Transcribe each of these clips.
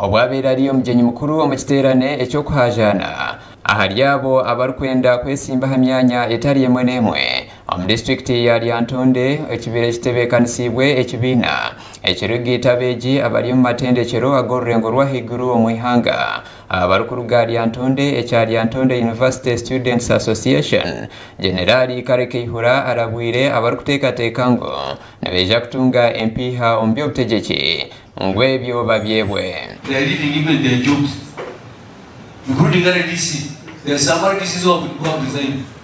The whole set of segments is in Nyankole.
Obwabaire ari omugyenyi mukuru omu kiteerane eky'okuhaajaana ahari abo abarikwenda kwetsimba aha myanya etari emwe n'emwe omu disiturikiti ya Lyantonde ekibaire kitebeekanisiibwe ekibiina ekirikugaita abeegi abari omu matendekyero ag'orurengo rw'ahaiguru omu ihanga. Abarikuruga aha Lyantonde ekya Lyantonde University Students Association, Generaali Kale Kaihura arabwire abarikuteekateeka ngu nibaija kutunga empiiha omu by'obutegyeki ngu ebyo babyebwe. They are living even their jobs including RDC, their some RDCs who have resigned.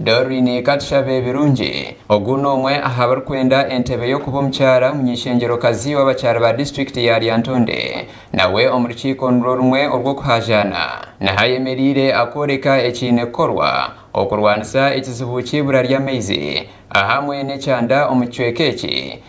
Doreen Katushabe Birungi, Ogu n'omwe aha barikwenda entebe y'okuba omukyara munyeishengyerokazi w'abakyara ba disiturikiti ya Lyantonde. Nawe omu rukiiko nirwo rumwe orw'okuhaajaana. Niho ayemereire akooreka ekiine kukorwa okurwanisa ekizibu ky'eibura ry'amaizi ahamwe n'ekyanda omu kicweka eki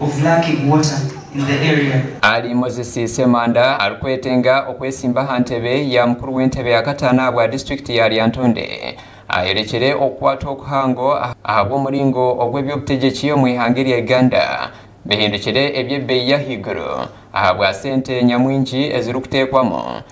of lacking water in the area. Ali Moses Ssemanda arikwetenga okwesimba aha ntebe ya mukuru w'entebe ya kataano ahabwa disiturikiti ya Lyantonde ayorekire okukwatwa okuhango ahabw'omuringo ogu eby'obutegyeki omu ihanga erya Uganda bihindukire eby'ebeeyi y'ahaiguru ahabwa sente nyamwingi ezirikuteekwamu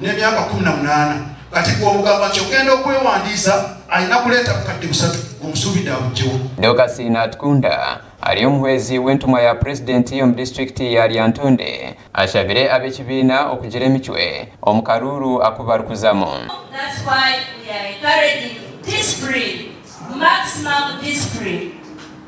n'emyaka kumi na munaana kati ku omugamba nti okenda okwewandiisa ayina kureeta bukadde busatu ngu omusuubide abugyewo. Dorcas Natukunda ari omuhwezi w'entumwa ya Purezidenti omu disiturikiti ya Lyantonde ashabire ab'ekibiina okugira emicwe omu karuuru aku barikuzamu.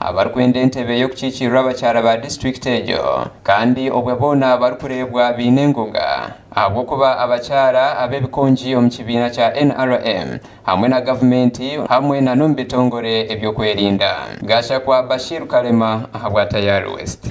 abarikwenda entebe y'okukiikiirira abakyara ba disiturikiti egyo kandi obwe boona barikureebwa baine enguga ahabw'okuba abakyara ab'ebikongi omu kibiina kya nrm hamwe na gavumenti hamwe na n'omu bitongore eby'okwerinda. Gashakwa Bashir Kalema ahabwa Tayari West.